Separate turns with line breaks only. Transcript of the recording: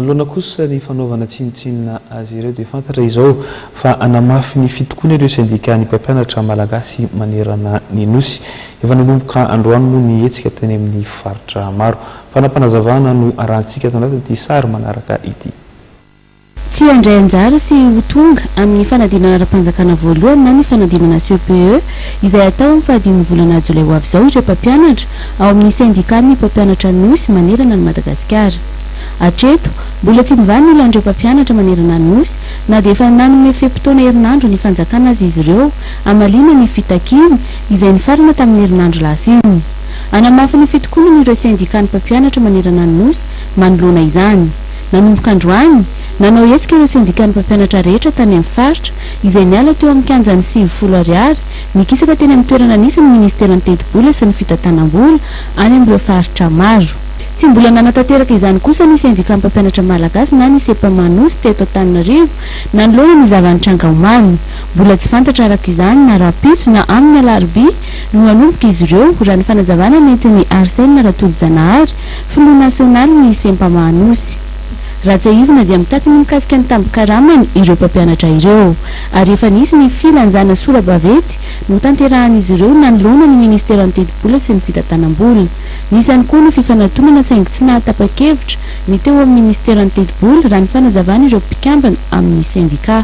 Manoloana kosa ny fanaovana tsinontsinona azy ireo dia fantatra izao fa hanamafy ny fitokoana ireo sendikan'ny mpampianatra malagasy manerana ny Nosy. Efa nanomboka androany moa ny hetsika teny amin'ny faritra maro. Fanapanazavana no arahantsika ato anatin'ity sary manaraka ity. Tsy
handray anjara sy ho tonga amin'ny fanadinana ara-panjakana voalohany na ny fanadinana CPE izay hatao amin'ny fahadimy volana jolay ho avy izao ireo mpampianatra ao amin'ny sendikan'ny mpampianatra Nosy manerana an'i Madagasikara. Hatreto, mbola tsy mivaha ny olan'ireo mpampianatra manerana ny Nosy, na dia efa nanome fe-potoana herinandro ny fanjakana aza izy ireo, hamaliana ny fitakiany, izay nifarana tamin'ny herinandro lasa iny. Hanamafy ny fitokonany ireo sendikan'ny mpampianatra manerana ny Nosy, manoloana izany. Nanomboka androany, nanao hetsika ireo sendikan'ny mpampianatra rehetra tany amin'ny faritra, izay niala teo amin'ny kianjan'ny sivifolo Ariary, nikisaka teny amin'ny toerana nisy ny minisiteran'ny Tetibola sy ny Fitantanam-bola, any amin'ireo faritra maro. Tsy mbola nanatanteraka izany kosa ny Sendikà Mpampianatra Malagasy na ny Sepama Nosy teto Antananarivo nanoloana ny zava-nitranga omaly. Mbola tsy fantatra araka izany na rahampitso na amin'ny alarobia no hanomboka izy ireo, raha ny fanazavana nentin'i Arsène Ratolojanahary, filoha nasionalin'ny Sempama Anosy. Raha tsiahivina dia mitaky ny mikasika ny tambin-karamany ireo mpampianatra ireo, ary efa nisy ny filanjana sora-baventy notanterahan'izy ireo nanoloana ny ministeran'ny Tetibola sy ny Fitantanam-bola. Nisy ihany koa ny fifanatonana saingy tsy nahatapa-kevitra ny teo amin'ny minisiteran'ny tetibola, raha ny fanazavan'ireo mpikambana amin'ny sendikà.